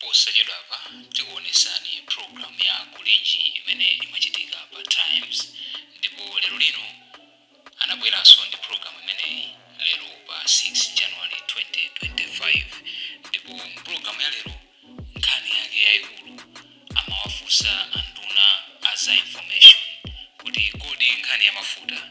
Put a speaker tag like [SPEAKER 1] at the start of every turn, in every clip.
[SPEAKER 1] Posachedwapa tikuonesani program ya Kulinji imene imachitika pa times ndipo lero lino anabweranso ndi program imeneyi lero pa 6 January 2025 ndipo mu program ya lero nkhani yake yaikulu amawafunsa anduna a za information kuti kodi nkhani ya mafuta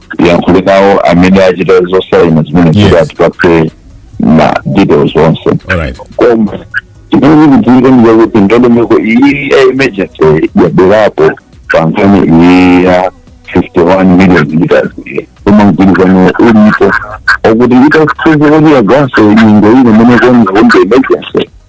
[SPEAKER 2] tiyankhule nawo amene achita zosaina zimene Yes. kuti atipatse ma details onse alright koma chimene chikudziwika ndichakuti ndondomeko iyi ya emergency yabwerapo pa nkhani iyi ya 51 million liters iyi. koma mgwirizano ulipo wokuti itasize kuti yaganso nyengo ino imene konza kunde emergency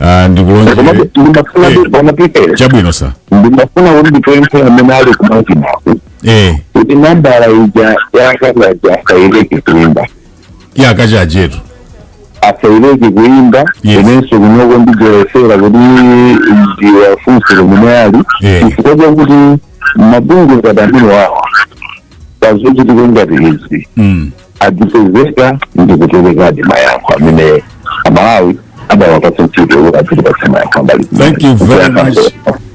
[SPEAKER 3] Ah, ndikulonjere komabe ndimafuna Eh. kuti pamapitera chabwino sa ndimafuna kuti
[SPEAKER 2] ndipemphe amene ali kumachinaku eh kuti nambala ija ya a Kachaje asaileke kuimba ya a
[SPEAKER 3] Kachajetu
[SPEAKER 2] asaileke kuimba Yes. inenso kunoko ndiyesera kuti ndiwafunse kumene ali Eh. chifukwa chakuti mabungwe ngati amene wawa pazochitika ngati izi mm adzipezeka ndi kuperekadi mayankho amene amalawi adawapatsa ntchito kuti adzitipatsa mayankho ambali thank you very much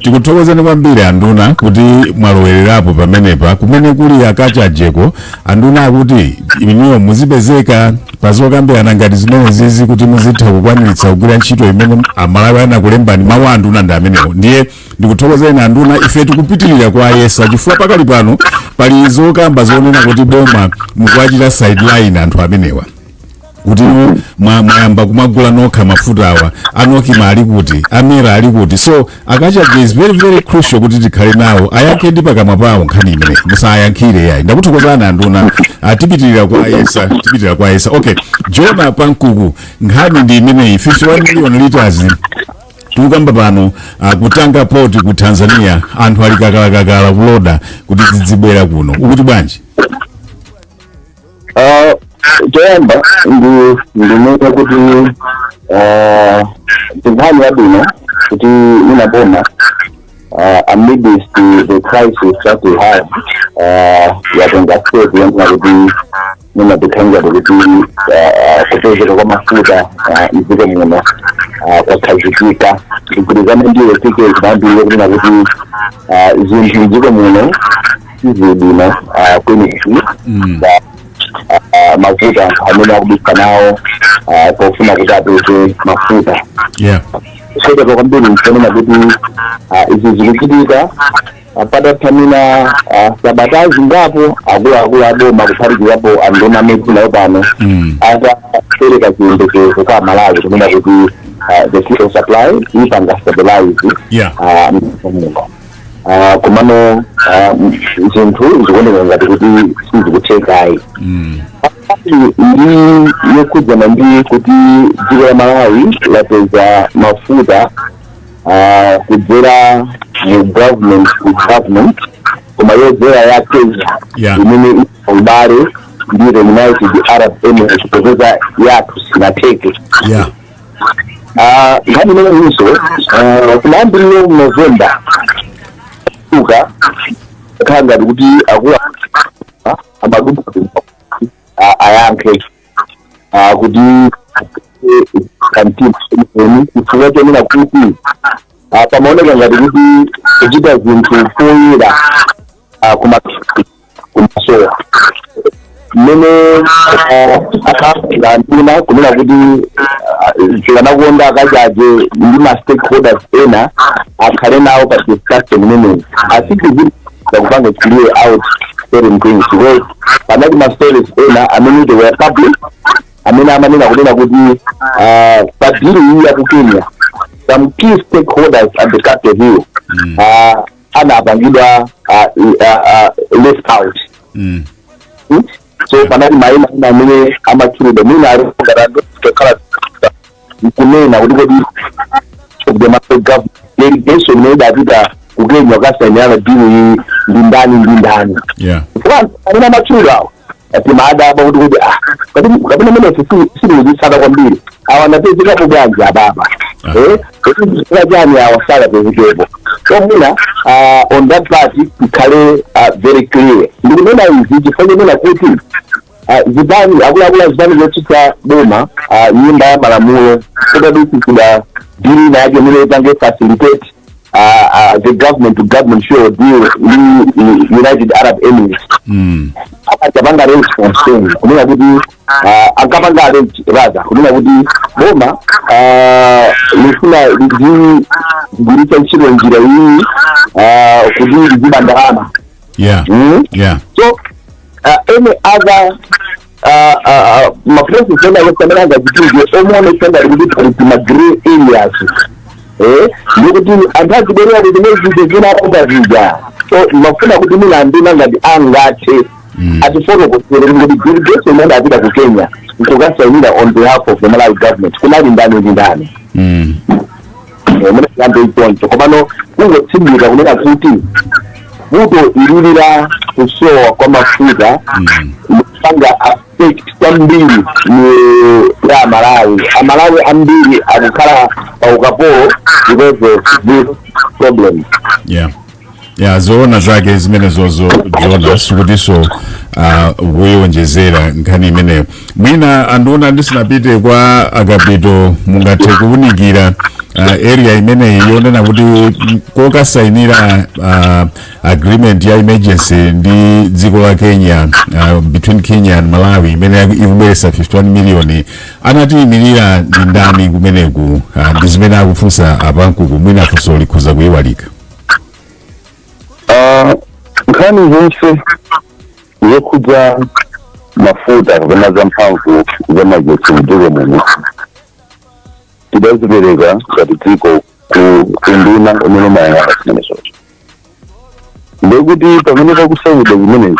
[SPEAKER 3] tikuthokozani kwambiri anduna kuti mwalowererapo pamenepa kumene kuli a Kachajeko anduna akuti inuyo muzipezeka pazokambirana ngati zimene zizi kuti muzitha kukwaniritsa kugwira ntchito imene amalawi anakulembani mawu a anduna ndi amenewo ndiye ndikuthokozeni anduna ife tikupitirira kuwayesa chifukwa pakali pano pali zokamba zonena kuti boma mukuwachita sideline anthu amenewa kuti mwa- mwayamba kumagula nokha mafuta awa a NOCMA ali kuti a MERA ali kuti so a Kachaje is very very crucial kuti tikhale nawo ayankhe ndi pakamwa pawo nkhani imene musayankhire yayi ndakuthokozani anduna Ah, tipitirira kuwayesa tipitirira kuwayesa okay Jona Pankuku nkhani ndi imeneyi 51 million liters tikukamba pano uh, ku Tanga port ku Tanzania anthu ali kakalikakali kuloda kuti zidzibwera kuno ukuti bwanji
[SPEAKER 2] Ah, choyamba ndi ndinene kuti ah, ndi nkhani yabwino kuti mwina boma ah, amidst the crisis that we have ah, yatenga step yonena kuti mwina kuthandiza kuti kupezeka kwa mafuta ah, mdziko muno ah, kukhazikike zigwirizane ndiwo tike zinayambirire kunena kuti ah, zinthu mdziko muno sizili bwino ah, kwenikweni Mm. Ba- ah, ah, mafuta anthu amene akuvutika nawo ah, pofuna kuti apeze mafuta yeah zoopsa kwambiri kunena kuti ah, izi zikuchitika patatha mwina ah, sabata zingapo akuluakulu aboma kuphatikizapo anduna amene nayo pano Mm. atapereka chiyembekezo kwa amalawi kunena kuti ah, the fuel supply ipanga stabilize Yeah. ah, muno. Ah, komano ah, m- zinthu zikuoneka ngati kuti sizikuthekayi Mm. ndi yokhudzana ndi kuti dziko la malawi lapeza mafuta ah, kudzera mu government to government koma yodzera ya kenya Yeah. imene ili pa ubale ndi the united arab emirates popeza yathu sinatheke yeah Ah, nkhani imeneyinso ah, kumayambiriro mu novemba uka khala ngati kuti akulu amaduka ayankhe ah, kuti kantima eni chifukwa chonena kuti ah, pamaoneka ngati kuti kuchita zinthu poyera ah, kuma- kumasowa mmene anduna kunena kuti tikanakonda a kachaje ndi ma stakeholders ena akhale nawo pa discussion imeneyi asikuti akupanga clear out certain things because panali ma stories ena amene they were public amene amanena kunena kuti ah, pa deal iyi ya ku kenya some key stakeholders at the capital hill ah, anapangidwa ah, i- ah, ah, left out Mm. so panali maina ina amene amatchulidwa mwina ali ngati anthu tokhala nkunena kuti kodi kudemaga delegation imene idapita ku kenya kukasainirana deal iyi ndi ndani ndi ndani
[SPEAKER 3] yeah Kwanza,
[SPEAKER 2] amene amatchulidwa awo anthu amadabwa kuti kuti ah kapena kapena amene sitikuzitsata kwambiri awa anapezekapo bwanji awawa eh chifukwa chani awa asakapezekepo so mwina ah, on that part tikhale ah, very clear ndikunena izi chifukwa chonena kuti ah, zipani akuluakulu a zipani zotsutsa boma ah, mnyumba ya malamulo kudadutsitsidwa bill inayake imene ipange facilitate ah, ah, the government to government fuel deal ndi united arab emirates Mm. ankapanga response kunena kuti ah, ankapanga allege rather kunena kuti boma ah, lifuna lidzigwiritsa ntchito njira iyi ah, kuti lidziba ndalama yeah Mm.
[SPEAKER 3] yeah so
[SPEAKER 2] uh, any other uh, uh, uh, maplaces ena yofanana ngachitike oonetsa ngati kuti pali ma grey areas eh ndikuti anthu azibwerera kuti nezite zinaopa zija so timafuna kuti mwina anduna ngati angathe atifotokozere kuti delegation imene apita ku kenya nkukasainira on behalf of the malawi government kunali ndani ndi ndani Mm. mwina tiyambe choncho komano kungotsindika kunena kuti vuto ilili la kusowa kwa mafuta kupanga affect kwambiri miyoyo ya amalawi amalawi ambiri akukhala pa ukapolo because of this problem Yeah.
[SPEAKER 3] ya zoona zake zimenezozo jonah sikutinso kuyionjezera uh, nkhani imeneyo mwina anduna ndisinapite kwa akapito mungathe kuwunikira uh, area imeneyi yonena kuti kokasainira uh, agreement ya emergency ndi dziko la kenya uh, between kenya and malawi imene ikubweretsa 51 million anatiyimirira ndi ndani kumeneku uh, ndi zimene akufunsa apankuku mwina funso likhoza kuyiwalika
[SPEAKER 2] Ah, nkhani zonse zokhudza mafuta kapena za mphamvu za magetsi mdziko muno tidazipereka ngati dziko ku unduna umene umayang'ana zimenezozo ndekuti pamene pakusainidwa zimenezi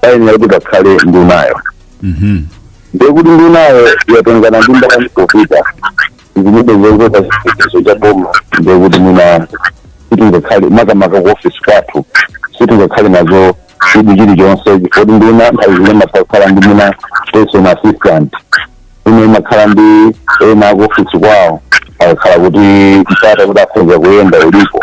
[SPEAKER 2] payenera kuti pakhale ndunayo Mhm. ndekuti ndunayo yatengana ndi ndani popita zilibe zoopsa chitetezo cha boma ndekuti mwina sitingakhale makamaka ku ofisi kwathu sitingakhale nazo chidwi chilichonse chifoti nduna nthawi zina imatha kukhala ndi mwina personal assistant mwina imakhala ndi ena ku ofisi kwawo akakhala kuti mpata kuti akhonza kuyenda ulipo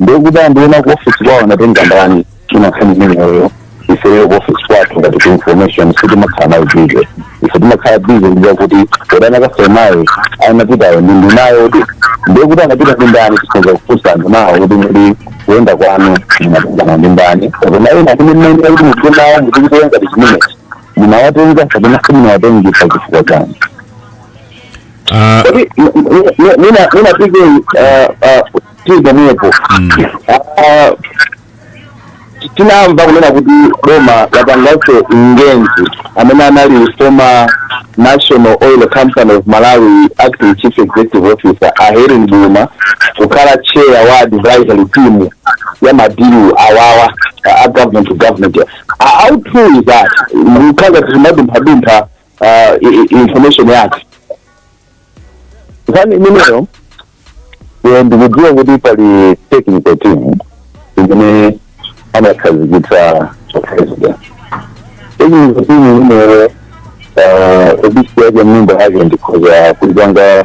[SPEAKER 2] ndekuti anduna ku office kwawo anatenga ndani nkhani imeneyo ifeyo ku office kwathu ngati ku information sitimakhala nayo busy ife timakhala busy ndi yakuti kodi anakasainayo anapitayo ndi ndunayo kuti ndekuti anapita ndi ndani tikhoza kufunsa andunawo kuti ngati kuyenda kwanu munatengana ndi ndani kapena ena kuti mmayenera kuti mugwe nawo mutikitoya ngati chimenechi munawatenga kapena simunawatenge chifukwa chani Ah, Tapi mina mina pikir uh, uh, tili pomwepo Mm. Ah, tinamva kunena kuti boma lapanganso engage amene anali former national oil company of malawi acting chief executive officer a helen buluma kukhala chair wa advisory team ya madilu awawa a- a government to government A- how true is that mukhaza tizimadumphadumpha ah, i- i- information yake nkhani imeneyo eh, ndikudziwa kuti pali technical team imene anakhazikitsa president technical team imeneyo ah, ofisi yake nyumba yake ndikhoza kuipanga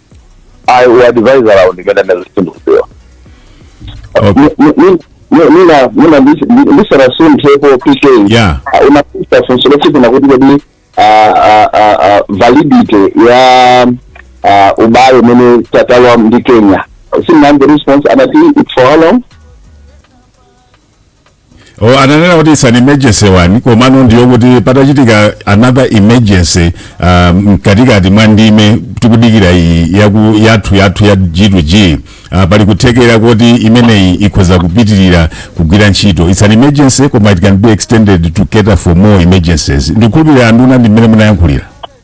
[SPEAKER 2] ayi advisor awo ndimene ndazisindikuziwa Okay. mwina mwina ndisanasunthepo pk Yeah. Ah, anafunsa
[SPEAKER 3] funso
[SPEAKER 2] lokuti kunena kuti kodi ah, ah, ah, ah, validity ya ah, ubale umene talowa ndi kenya sindinamve response anati it's for how long
[SPEAKER 3] Oh, ananena kuti it's an emergency one komano ndiyo kuti patachitika another emergency uh, mkatikati mwa nthawi imene tikudikira iyi yaku, yathu yathu ya g to g uh, pali kuthekera kuti imeneyi ikhoza kupitirira kugwira ntchito it's an emergency koma it can be extended to cater for more emergencies ndikhulupirira anduna ndi mmene munayankhulira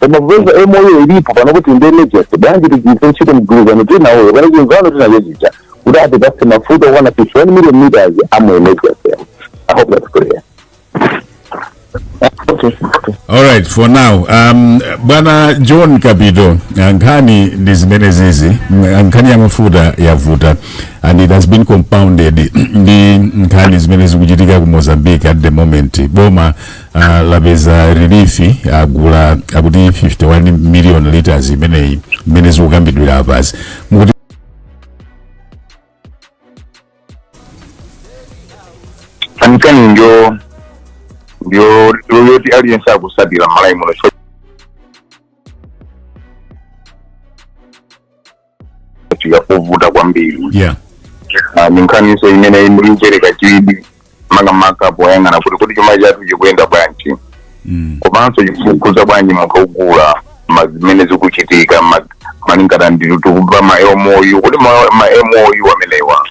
[SPEAKER 2] koma popeza MOU ilipo pano kuti ndi emergency bwanji tigwiritse ntchito mgwirizano tili nawowo pano chimvano tili nachochi kuti atipatse mafuta okwana 51 million liters a mu emergency i hope that's clear alright
[SPEAKER 3] for now um, bwana john kapito ah, nkhani ndi zimenezizi Mm, ah, nkhani ya mafuta yavuta and it has been compounded ndi nkhani zimene zikuchitika ku mozambique at the moment boma Ah, lapeza relief agula akuti 51 million liters imene zikukambidwira apazi mukuti
[SPEAKER 2] nkhani ndiyo ndiyo ndiyo yoti aliyense akutsatira mMalawi muno yovuta
[SPEAKER 3] kwambiri yeah Ah, ni
[SPEAKER 2] nkhaninso imene ikupereka chidwi makamaka poyang'ana kuti kuti chuma chathu chikuyenda bwanji mm. komanso chikukhudza bwanji munthu wogula ma- zimene zikuchitika ma- malingana ndi tikumva ma MOU kuti ma ma MOU amenewa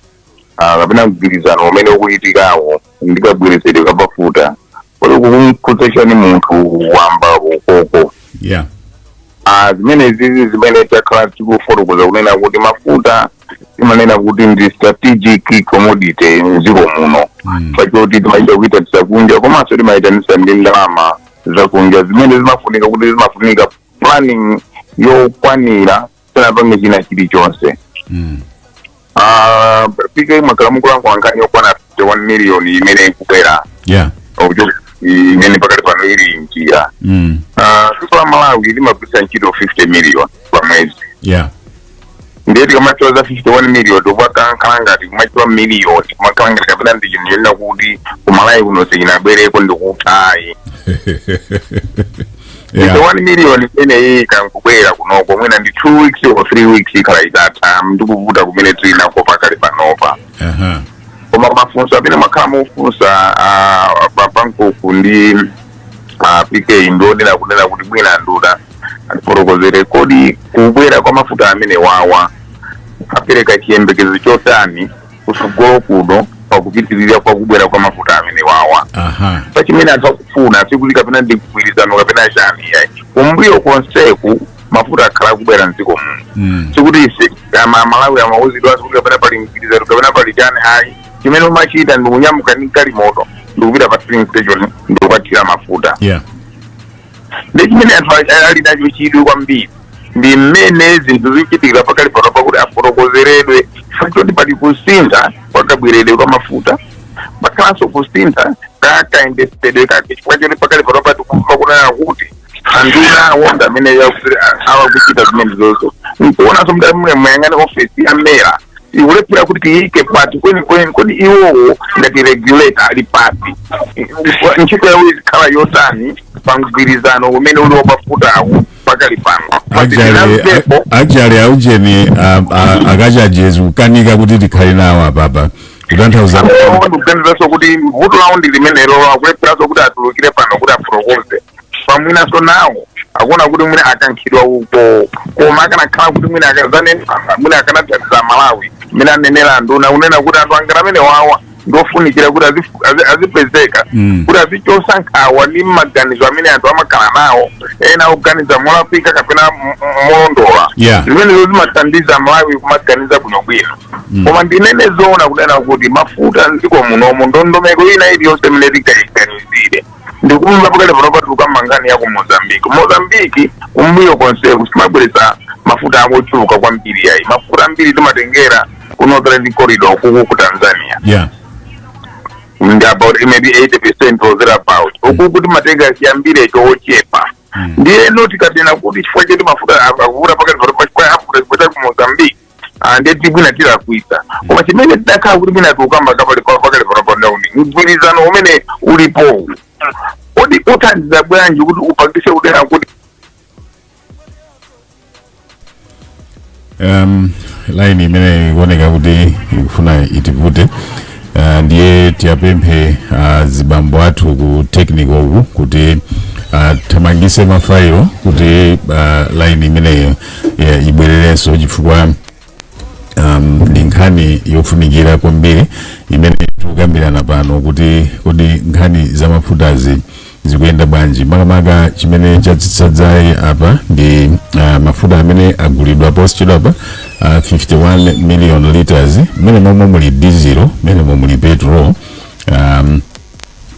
[SPEAKER 2] ah, kapena mgwirizano umene ukuchitikawo ndi kabweretsedwe ka mafuta kodi zikumukhudza bwanji munthu wamba uko yeah
[SPEAKER 3] Ah,
[SPEAKER 2] zimenezizi zimene takhala tikufotokoza kunena kuti mafuta timanena kuti ndi strategic commodity mdziko muno Mm. pachoti timachita kuyitanitsa kunja komanso timayitanitsa ndi ndalama zakunja zimene zimafunika kuti zimafunika planning yokwanira usanapange china chilichonse Mm. Ah, pk mwakhala mukulankhula nkhani yokwana 51 million imene ikubwera Yeah.
[SPEAKER 3] okuchoka imene
[SPEAKER 2] pakati pano ili mnjira Mm. Ah, dziko la malawi limagwiritsa ntchito 50 million pa mwezi
[SPEAKER 3] Yeah.
[SPEAKER 2] ndiye tikamatchula za 51 million zikumakhala ngati kumatchula million kumakhala ngati kapena ndi chinthu chonena kuti ku malawi kuno sichinabwereko ndikuti ayi Yeah. Ndipo 51 million imeneyi ikangobwera kunoko mwina ndi 2 weeks or 3 weeks ikhala itatha ndikuvuta kumene tili nako pakali panopa Aha. koma mafunso amene mwakhala mufunsa ah, pa pankuku ndi ah, pk ndionera kunena kuti mwina nduna atifotokozere kodi kubwera kwa mafuta amene wawa apereka chiyembekezo chotani kutsogolo kuno pakupitirira kwa kubwera kwa mafuta amene wawa aha pa chimene anthu akufuna sikuti kapena ndi mgwirizano kapena chani yayi kumbuyo konseku mafuta akhala akubwera mdziko muno Mm. sikuti ife ama malawi amauzidwanso kuti kapena pali mgwirizano kapena pali chani ayi chimene amachita ndi kunyamuka ndi galimoto ndikupita pa filling station ndikukathira mafuta yeah ndi chimene anthu a- ali nacho chidwi kwambiri ndi mmene zinthu zikuchitikira pakali pano pakuti afotokozeredwe chifukwa choti pali kusintha kwa kabweredwe kwa mafuta pakhalanso kusintha ka kayendetsedwe kake chifukwa choti pakali pano pa tikumva kunena kuti andunawo nda amene yakuti awakuchita zimene zozo nkuonanso nda muyang'ane ofesi ya mera
[SPEAKER 4] ikulephera kuti tiyike pati kwenikweni kodi iwowo ngati regulator ali pati ntchito yawo izikhala yotani pa mgwirizano umene uli wa mafutawu pakali pano
[SPEAKER 3] actually aujeni a Kachaje zi kukanika kuti tikhale nawo apapa kutanthauza ndikuganizanso
[SPEAKER 4] kuti vuto lawo ndi limenelo akulepheranso kuti atulukire pano kuti afotokoze chifukwa mwinanso nawo akuona kuti mwina akankhidwa uko koma akanakhala kuti mwina akadzanena mwina akanathandiza amalawi mmene anenera anduna kunena kuti anthu angati amene wawa ndiofunikira kuti azifu- azi- azipezeka Mm. kuti azichotsa nkhawa ndi maganizo amene anthu amakhala nawo ena oganiza molakwika kapena m- m- molondola Yeah. zimenezo zimathandiza amalawi kumaganiza bwinobwino koma ndinene zoona kunena kuti mafuta mdziko munomo ndondomeko ina iliyonse imene tingaiganizire ndikumva pakali pano patuluka ma nkhani ya ku mozambiki mozambiki kumbuyo konseku simabweretsa mafuta ochuluka kwambiri ayi mafuta ambiri timatengera ku northern corridor kuku ku tanzania yeah ndi about maybe 80 percent or thereabout ukuku timatenga chiyambire chochepa ndiyeno tikanena kuti chifukwa choti mafuta a- akuvuta pakali pano pachifukwa afuta chifukwa cha ku mozambiki Ah, ndiye mwina tilakwitsa koma chimene tidakakhala kuti mwina tikukamba pakali pakali panopa nda kuti mgwirizano umene ulipowu kodi uthandiza bwanji kuti upangitse kuti ah kuti um,
[SPEAKER 3] line imene ikuoneka kuti ikufuna itivute Uh, ndiye tiwapemphe uh, zibambo athu ku technical uku kuti uh, athamangitse mafailo kuti uh, line imeneyo yeah, ibwererenso chifukwa um, ndi nkhani yofunikira kwambiri imene tikukambirana pano kuti kodi nkhani za mafutazi zikuyenda bwanji makamaka chimene chatsitsa dzaye apa ndi uh, mafuta amene agulidwa posachedwa apa uh, 51 million liters mmene momwe muli diesel mmene momwe muli petrol um,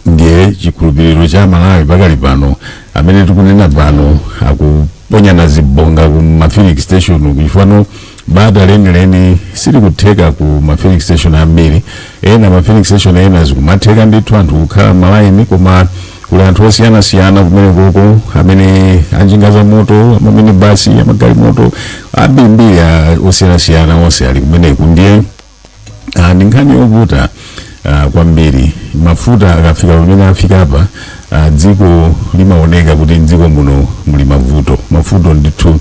[SPEAKER 3] ndiye chikhulupiriro cha amalawi pakali pano amene tikunena pano akuponyana zibonga ku mafilling station kuchifano bata lenileni silikutheka ku ma filling station ambiri ena ma filling station ena zikumatheka ndithu anthu kukhala malaini koma kuli anthu osiyanasiyana kumeneko amene anjinga za moto amaminibasi amagalimoto ambirimbiri a- osiyanasiyana onse ali kumeneko ndiye Ah, ndi nkhani yovuta ah, kwambiri mafuta akafika pamene afika apa ah, dziko limaoneka kuti mdziko muno muli mavuto mafuta ndithu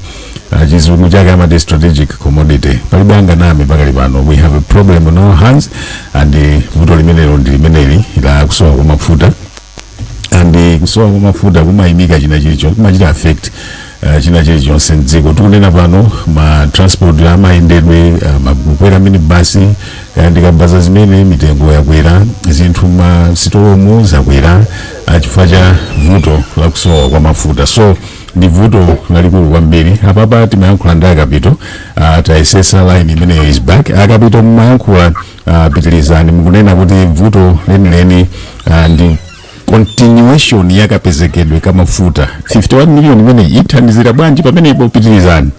[SPEAKER 3] ah, chizungu chake amati strategic commodity palibe anganame pakali pano we have a problem on our hands and eh, vuto limenelo ndi limeneli la kusowa kwa mafuta and eh, kusowa kwa mafuta kumayimika china chilichonse kumachita affect uh, china chilichonse mdziko tikunena pano ma transport amayendedwe uh, ma kukwera minibasi uh, ndi kabaza zimene mitengo yakwera zinthu m'masitolomu zakwera uh, chifukwa cha vuto la kusowa kwa mafuta so ndi vuto lalikulu kwambiri apapa timayankhula ndi akapito uh, tayesetsa line imeneyo is back akapito mumayankhula uh, pitirizani mukunena kuti vuto lenileni uh, ndi continuation ya kapezekedwe ka mafuta 51 million imeneyi ithandizira bwanji pamenepo pitirizani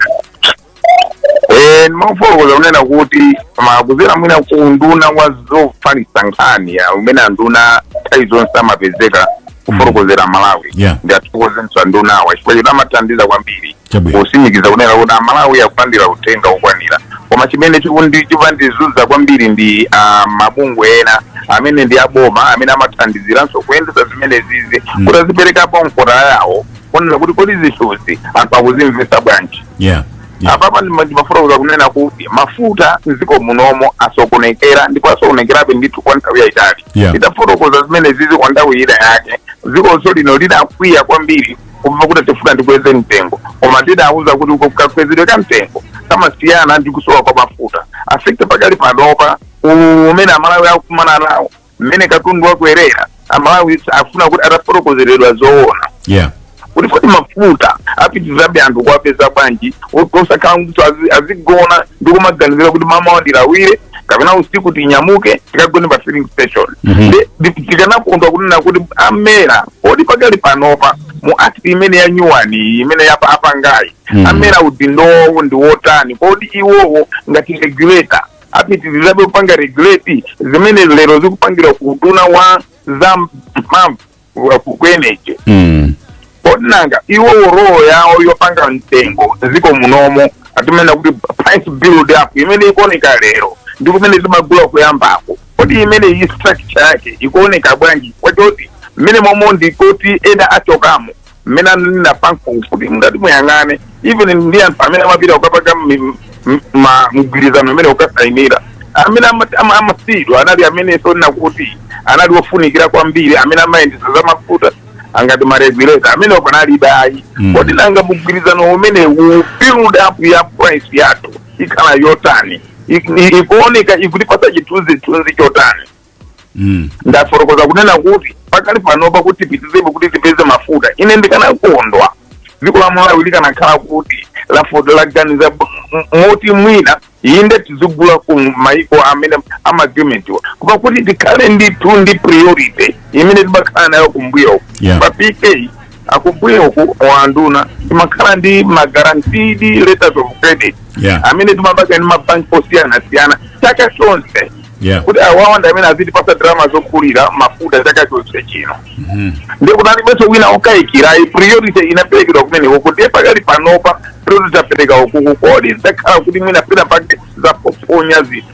[SPEAKER 3] Eh,
[SPEAKER 4] ndimafotokoza kunena kuti mwa kudzera mwina ku nduna wa zofalitsa nkhani ya amene anduna nthawi zonse amapezeka kufotokozera amalawi Yeah. ndiathokozenso andunawa chifukwa choti amathandiza kwambiri Chabwino. kutsimikiza kunena kuti amalawi akulandira uthenga wokwanira koma chimene chikundi- chikumandizunza kwambiri ndi ah, mabungwe ena amene ndi aboma amene amathandiziranso kuyendetsa zimenezizi Mm. kuti aziperekapo mfundo yawo kunena kuti kodi zinthuzi anthu akuzimvetsa bwanji Yeah. Yeah. apapa ndimafotokoza kunena kuti mafuta mdziko munomo asokonekera ndipo asokonekerabe ndithu kwa nthawi yayitali Yeah. ndidafotokoza zimenezizi kwa nthawi ina yake dziko lino lidakwiya kwambiri kumva kuti tifuna tikweze mtengo koma tidawauza kuti uko kakwezedwe ka mtengo kamasiyana ndi kusowa kwa mafuta effect pakali panopa ululu umene amalawi akukumana nawo mmene katundu wakwerera amalawi afuna kuti atafotokozeredwa zoona yeah kuti kodi mafuta apitirizabe anthu kuwapeza bwanji osakhala kuti azi- azigona ndi kumaganizira kuti mmamawa ndilawire kapena usiku tinyamuke tikagone pa filling station Mhm. Ndi- ndi- tikanakondwa kunena kuti a MERA kodi pakali panopa mu act imene yanyuwani iyi imene apangayi Mm. amera udindo wawo ndi wotani kodi iwowo ngati regulator apitirizabe kupanga regulate zimene lero zikupangidwa ku uduna wa za mphamvu wa ku energy Mm. kodi nanga iwo role yawo yopanga mtengo mdziko munomo timanena kuti price build up imene ikuoneka lero ndi kumene timagula kuyambako Kodi imeneyi structure yake ikuoneka bwanji kamba choti mmenemomo ndikuti ena achokamo mmene ananena paja kuti ngati muyang'ane even ndi anthu amene amapita kukapanga mi- m- ma- mgwirizano amene akasayinira amene ama- ama- amasiyidwa anali amene tikunena kuti anali ofunikira kwambiri amene amayendesa za mafuta ngati maregulator amene panalibe ayi Mm. kodi nanga mgwirizano umenewu build up ya price yathu ikhala yotani ik- i- ikuoneka ikutipatsa chithunzithunzi chotani Mm. ndafotokoza kunena kuti pakali panopa kuti tipitirizebe kuti tipeze mafuta ine ndikanakondwa dziko la malawi likanakhala kuti lavo- laganiza m- m- moti mwina inde tizigula ku maiko amene a ma agreement-wa koma kuti tikhale ndithu ndi priority imene timakhala nayo kumbuyo Yeah. pa pk kumbuyoku anduna timakhala ndi ma guaranteed letters of credit Yeah. amene timapanga ndi mabanki osiyanasiyana chaka chonse Yeah. kuti awawa ndi amene azitipasa ndalama zogulira mafuta chaka chonse chino ndiye kuti panalibenso wina okayikira ayi priority inaperekedwa kumeneko ndiye pakali panopa priority tapereka ukoku kodi zakhala kuti mwina pena pake zaponya zinthu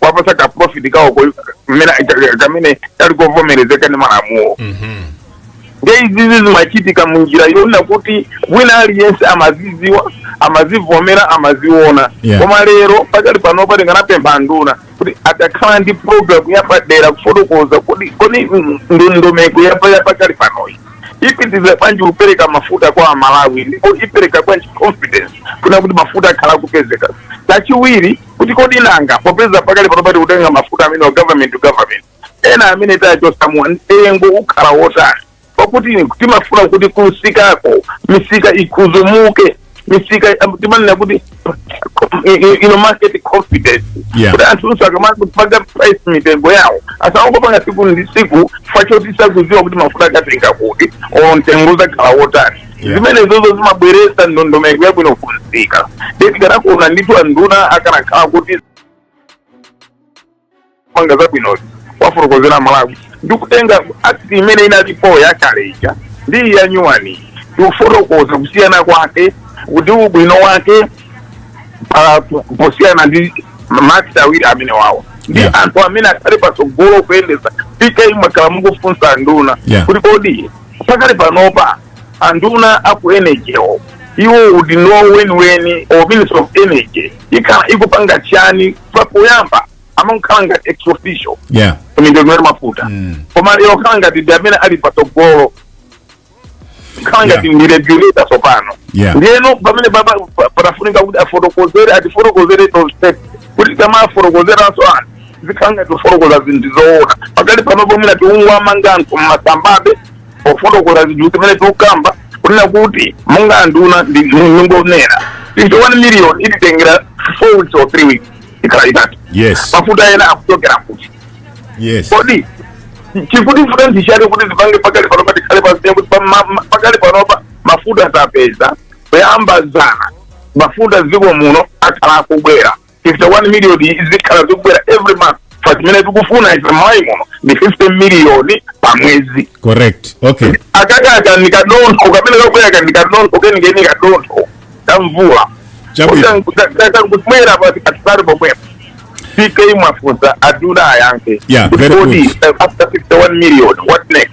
[SPEAKER 4] kuwapasa ka profit kawo ko- mmene- ka- ka- kamene kali kovomerezeka ndi malamulo Mhm. nde izizi zimachitika mu njira yonena kuti wina aliyense amaziziwa amazivomera amaziona Yeah. koma lero pakali panopa tikanapempha nduna kuti atakhala ndi programu yapadera kufotokoza kuti kodi mm, ndondomeko yapa yapakali panoyi ipitiriza bwanji kupereka mafuta kwa amalawi ndipo ipereka bwanji confidence kunena kuti mafuta akhala akupezeka chachiwiri kuti kodi nanga popeza pakali panopa tikutenga mafuta amene wa government to government ena amene tachosamuwa mtengo ukhala wotani pakuti timafuna kuti kumsikako misika isunzumuke misika timanena kuti market confidence Yeah. kuti anthu onse akamakapanga price mitengo yawo asangopanga siku ndi siku chifukwa choti sakuziwa kuti mafuta akatenga kuti or mtengo uzakhala wotani Yeah. zimenezozo zimabweresa ndondomeko yabwino kumsika nde tikanakondwa ndithu anduna akanakhala kuti apanga zabwinozi awafotokozera amalawi ndi kutenga akti imene inalipo yakale ija ndi iyi yanyuwani ndi kufotokoza kusiyana kwake kuti ubwino wake pa- po- posiyana ndi maakti awiri amenewawo ndi Yeah. anthu amene akhale patsogolo kuyendesa pk mwakhala mukufunsa anduna Yeah. kuti kodi pakali panopa anduna aku energy wo iwo udindo weniweni wa minister of energy imakhala ikupanga chani papoyamba amakhala ngati ex officio yeah mitengo ya mafuta Mm. koma lero khala ngati ndi amene ali patsogolo khala ngati Yeah. ndi regulator tsopano Yeah. ndiyeno pamene pa- pa- patafunika kuti afotokozere atifotokozere tonse kuti tamafotokozeranso anthu zikhala ngati kufotokoza zinthu zoona pakali panopo mwina tikungowanamiza anthu mmasambabe pofotokoza zinthu zimene tikukamba kunena kuti monga anduna ndi ndingonena fifty one million ititengera four weeks or three weeks ikhala itatu yes mafuta ena akuchokera kuti yes kodi chikutivuta ndi chani kuti zipange pakali panopa tikhale paziya kuti pa- ma- ma- pakali panopa mafuta tapeza kuyamba zana mafuta dziko muno akhala akubwera 51 million izikhala ikubwera every month chifukwa zimene tikufuna ife mmalawi muno ndi 50 miliyoni pa mwezi correct
[SPEAKER 3] okay aka
[SPEAKER 4] aka ndikadontho kamene kakuyaka ndikadontho kenikeni kadontho kamvula Chabwino. kakangutmwera patikatipati pomwepo ck mwafunsa anduna ayankhe Yeah, very Kodi,
[SPEAKER 3] good. eh, after 51
[SPEAKER 4] million what next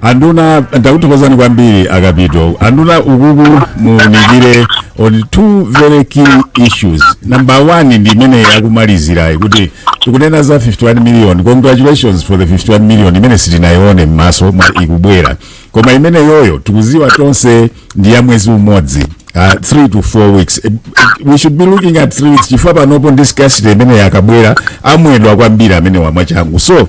[SPEAKER 3] anduna ndakuthokozani kwambiri a kapito anduna ukuku muwunikire on two very key issues number one ndi imene yakumalizirayi kuti tikunena za 51 million congratulations for the 51 million imene sitinayione m'maso ikubwera koma imeneyoyo tikuziwa tonse ndi ya mwezi umodzi uh, 3 to 4 weeks Eh, eh, we should be looking at 3 weeks chifukwa panopo ndi scarcity imene akabwera amwedwa kwambiri amenewa mwachangu so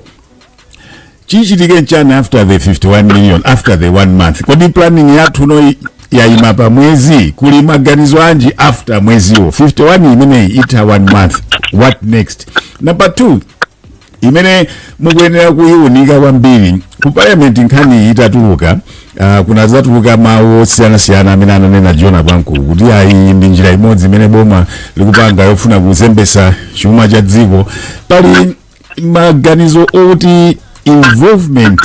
[SPEAKER 3] chichitike nchani after the 51 million after the one month kodi planning yathuno yayima pa mwezi kuli maganizo anji after mweziwo 51 imeneyi itha one month what next number two imene mukuyenera kuyiunika kwambiri ku parliament nkhani itatuluka uh, kunazatuluka mawu osiyanasiyana amene ananena jona pankulu kuti ayi ndi njira imodzi imene boma likupanga yofuna kuzembesa chuma cha dziko pali maganizo oti involvement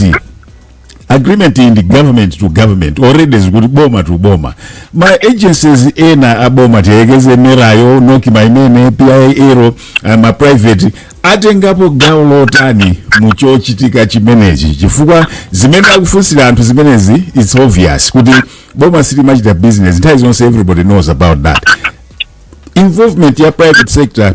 [SPEAKER 3] agreement ya government to government already zikuti boma to boma ma agencies ena aboma tiyekeze mera yo nocma imene pil yo uh, ma private atengapo gawo lotani mu chochitika chimenechi chifukwa zimene akufunsira anthu zimenezi its obvious kuti boma silimachita business nthawi zonse everybody knows about that involvement ya private sector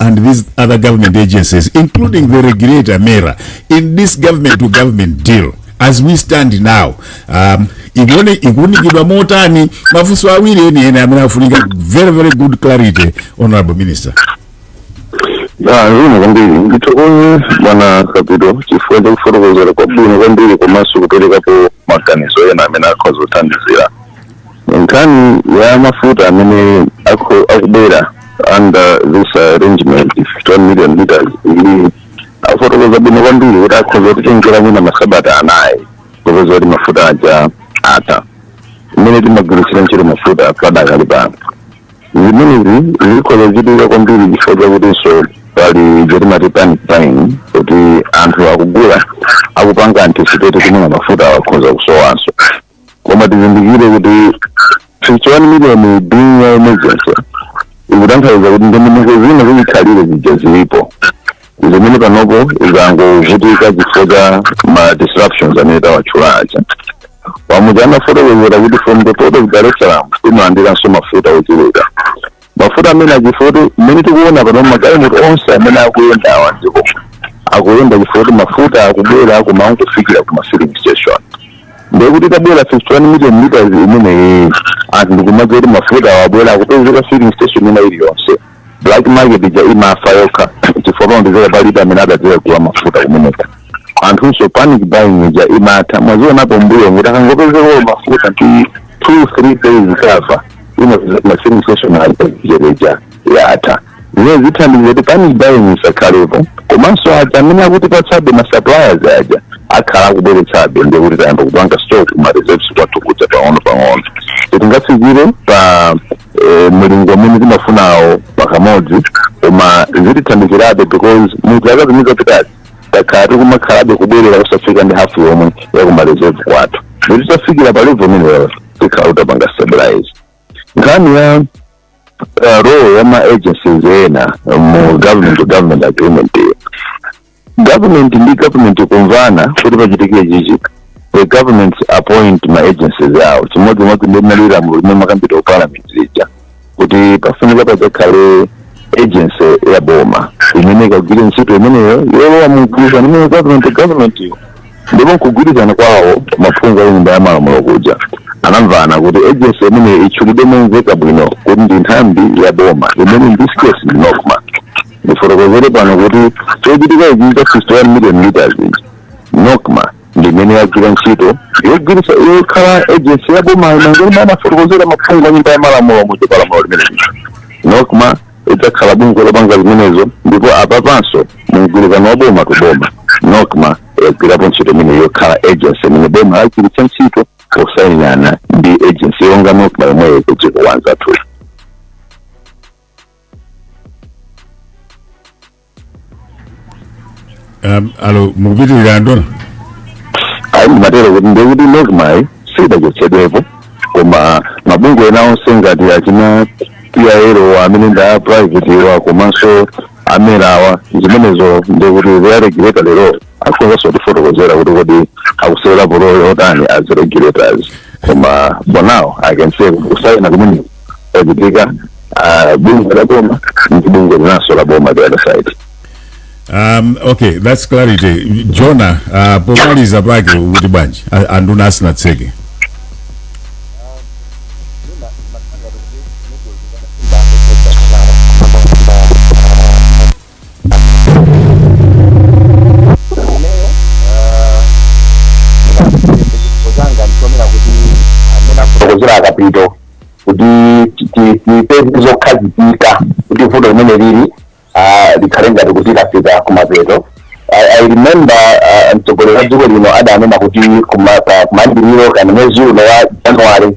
[SPEAKER 3] and these other government agencies, including the regulator, MERA, in this government to government deal, as we stand now, um, ikuuni ikuunikidwa motani mafunso awiri eni eni amene afunika very very good clarity honorable minister Ah,
[SPEAKER 2] zikomo kwambiri ndithokoze bwana Kapito chifukwa chakufotokozera kwabwino kwambiri komanso kuperekapo maganizo ena amene akhoza kuthandizira nkhani ya mafuta amene akho- akubwera under this arrangement 51 million liters iwo afotokoza bwino kwambiri kuti akhoza kutitengera mwina masabata anayi kupeza kuti mafuta aja atha mmene timagwiritsira ntchito mafuta padakali pano zimenezi zikhoza kuchitika kwambiri chifukwa chakutinso pali ija timati panic buying kuti anthu akugula akupanga anticipate kuti mwina mafuta akhoza kusowanso koma tizindikire kuti 51 miliyoni being ya emergency ikutanthauza kuti ndondomeko zina zachikhalire zija zilipo zimene panopo zangovutika chifukwa cha ma disruptions amene tawatchula aja pamuja tinafotokozera kuti from the port of dar es salaam timalandiranso mafuta ochuluka mafuta amene achifukwa kuti mmene tikuona pano magalimoto onse amene akuyenda awa ndipo akuyenda chifukwa kuti mafuta akubwera koma akumafikira ku mafilling station ndekuti atabwera 51 million liters imeneyi anthu ndikumadziwa kuti mafuta abwera akupezeka filling station ina iliyonse black market ija imafa yokha chifukwa pamapezeka palibe amene adzadziwa kugula mafuta kumeneko anthunso panic buying ija imatha mwazionapo mbuyo ngati akangopezeka mafuta ndi 2 3 days kava mu ma filling station mizere ija yatha zimene zithandiza kuti panic buying isakhalepo komanso aja amene akutipatsabe ma suppliers aja akhala akubweretsabe ndiye kuti tayamba kupanga stock kuma reserves kwathu kudza pang'ono pang'ono sitingafikire pa eh, mlingo umene timafunawo pakamodzi koma zitithandizirabe because muzaka zimene zapitazi takhala tikumakhalabe kubwerera kusafika ndi hafu yomwe yakumareserve kwathu titafikira pa level imeneyo tikhala kuti tapanga stabilize nkhani ya uh, role ya ma agencies ena mu government to government agreement iyo government ndi government kumvana kuti pachitike chakuti the governments appoint ma agencies awo chimodzimodzi ndi mmene zinalili mu lamulo limakambidwa ku parliament lija kuti pafunika padzakhale agency ya boma imene ikagwire ntchito imeneyo yolowa mugwirizano imene government government yo ndipo nkugwirizana kwawo maphungu a nyumba ya malamulo kuja anamvana kuti agency imeneyo itchulidwe momveka bwino kuti ndi nthambi ya boma imene in this case ndi NOCMA ndifotokozere pano kuti chochitika ichi cha 51 million liters ichi NOCMA ndi imene yagwira ntchito yogwiritsa yokhala agency ya boma monga mmene anafotokozera maphungu a nyumba ya malamulo mu pa lamulo limeneli NOCMA idzakhala bungwe lopanga zimenezo ndipo apapanso mumgwirizano wa boma to boma NOCMA yagwirapo ntchito imene yokhala agency imene boma lagwiritsa ntchito posayinirana ndi agency yonga NOCMA yomweyo kudziko kwa anzathu
[SPEAKER 3] Um, alo mukupitirira anduna
[SPEAKER 2] ayi ndimatero kuti ndiye kuti NOCMAyi sidachotsedwepo koma mabungwe ena onse ngati achina PIL amene ndi a privatewa komanso a MERAwa zimenezo ndikuti they are regulator lero akhozanso kutifotokozera kuti kodi akusewera role yotani as regulators koma for now I can say kuti kusayina kumene kwachitika ah, bungwe la boma ndi bungwe linanso la boma the other side um,
[SPEAKER 3] okay that's clarity Jona uh, pomaliza pake ukuti bwanji A- anduna asinatseke ineyo ndika-
[SPEAKER 2] chiyembekezo changa ndichonena kuti mmene afotokozera a Kapito kuti ti- ti- tipeze zokhazikika kuti vuto limene lili ah, likhale ngati kuti lafika kumapeto I, I remember ah, mtsogoleri wa dziko lino adanena kuti kuma- pa- kumayambiriro kwa mwezi uno wa January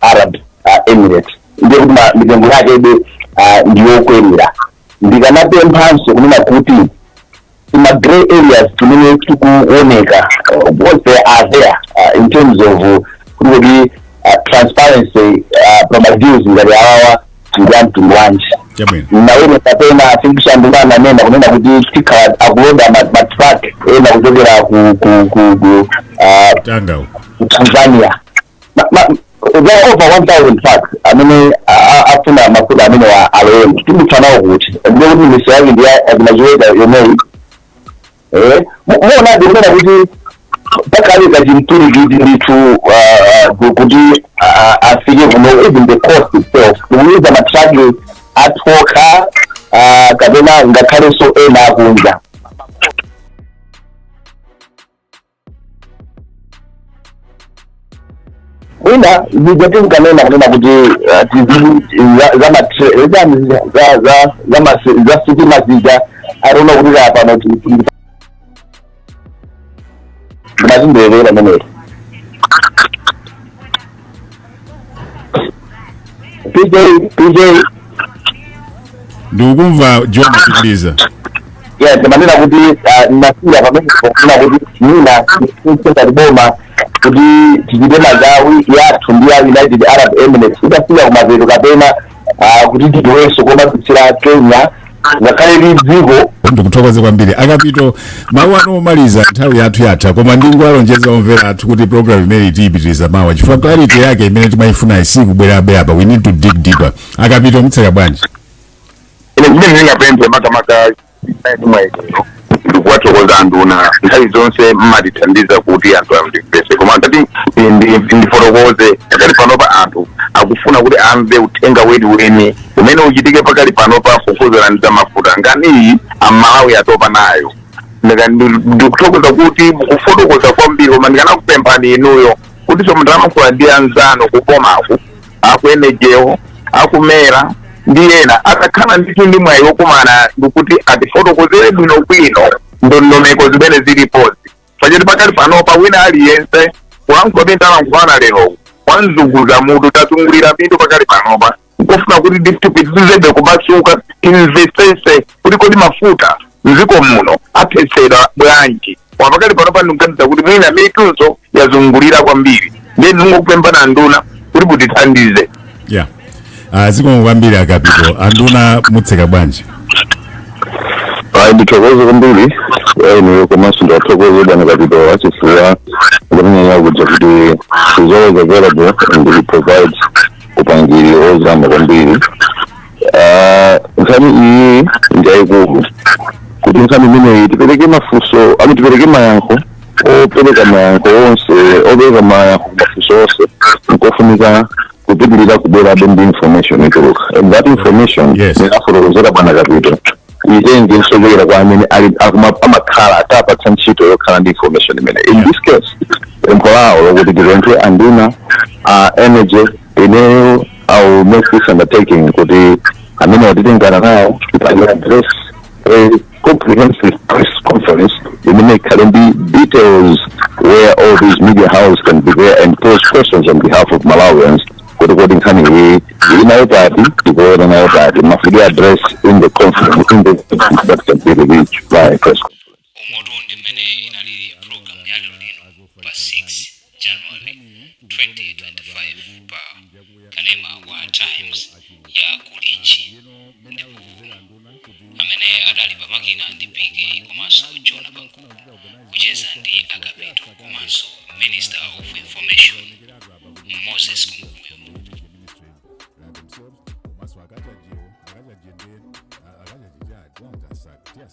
[SPEAKER 2] Arab Emirates ndiye kuti ma mitengo yakebe ndiyokwerera ndikanapemphanso kunena kuti tima grey areas timene tikuoneka what they are there uh, in terms of kuti kuti uh, transparency uh, pa madeals ngati awawa ndi a mtundu wanji chabwino naone kapena afikishanduka ananena kunena kuti tikhala akuloda ma- matruck ena kuchokera ku ku ku ku ah, Tanga uko ku Tanzania Ma- ma- there are over 1000 trucks amene a- a- afuna mafuta amenewa alowe tidutsa nawo kuti ndiye kuti misewu yake ndi ya- achina Chiweta yomweyi Eh, mu- muona ndikunena kuti pakali kachimturikiti ndithu ah, ah, ku- kuti ah, afike kuno even the cost itself kuyuza matraki athu okha ah, kapena ngakhalenso ena akunja wina zija tinkanena kunena kuti ah, tizi- za- za matre- zani zija, za- za- za mase- za sitima zija akuona kuti za pano ti- ti- tinazindiyekera pamenepo pj
[SPEAKER 3] pj ndikukumva john pitiliza yes
[SPEAKER 2] ndimanena kuti ah, ndinasiya pamene kufuna kuti mina singati boma kuti tichite magawi yathu ndi ya united arab emirates itafika kumapeto kapena ah, kuti tipewenso komadutsira kenya ngakhale ndi dziko ndikuthokoze kwambiri
[SPEAKER 3] akapito mawu anu omaliza nthawi yathu yatha koma ndingowalonjeza omvera athu kuti program imeneyi tiyipitiriza mawa chifukwa clarity yake imene timayifuna isikubwerabe apa we need to dig deeper akapito mutseka bwanji ine
[SPEAKER 4] zimene ndingapemphe makamaka ndi mwa ineyo ndikuwathokoza anduna nthawi zonse mmatithandiza kuti anthu amvese koma ngati ndi- ndi- ndifotokoze pakali panopa anthu akufuna kuti amve uthenga weniweni umene uchitike pakali panopa kukhudzana ndi zamafuta nkhaniyi amalawi atopa nayo Ndika- ndi- ndikuthokoza kuti mukufotokoza kwambiri koma ndikanakupemphani inuyo kuti so mutalankhula ndi anzanu kubomaku a ku energy-wo a ku mera ndi ena atakhala ndithu ndi mwayi wokumana ndikuti atifotokozere bwinobwino ndondomeko zimene zilipozi pachoti pakali panopa wina aliyense kulankhula pamene talankhulana lero wazunguza mutu tazungulira mitu pakali panopa nkufuna kuti ndithu tipitirizebe kumasuka timvesese kuti kodi mafuta mdziko muno athetsedwa bwanji koma pakali panopa ndikuganiza kuti mwina mitunso yazungulira kwambiri ndiye ndikungokupemphani anduna kuti mutithandize yeah
[SPEAKER 3] uh, zikomo kwambiri akapito anduna mutseka bwanji
[SPEAKER 2] ayi ndithokoze kwambiri inuyo komanso ndiwathokoze bwana kapito chifukwa kumenyanya kuja kuti he's always available and he provides upangiri ozama kwambiri Ah, nkhani iyi ndi yayikulu kuti nkhani imeneyi tipereke mafunso I mean tipereke mayankho opereka mayankho onse opereka mayankho ku mafunso onse nkofunika kupitirira kubwerabe ndi information ituluka and that information Yes. anafotokozera bwana kapito it needs kuchokera kwa amene ali akuma- amakhala atapatsa ntchito yokhala ndi information imene in this case pempho lawo lokuti tipemphe anduna a energy ineyo I'll make this undertaking kuti amenewa titengana nawo tipange address a comprehensive press conference imene ikhale ndi details where all these media houses can be there and pose questions on behalf of malawians kuti kodi nkhani iyi tili nayo pati tikuona nayo pati mafike address in the conference in the that can be released by press umotu
[SPEAKER 1] ndi mmene inalili pulogalamu ya lero lino pa 6 january 2025 pa kanema wa times ya kulinji ndipo amene adali pa makina ndi piki komanso jona pankuku kucheza ndi a kapito komanso minister of information moses kunkuyu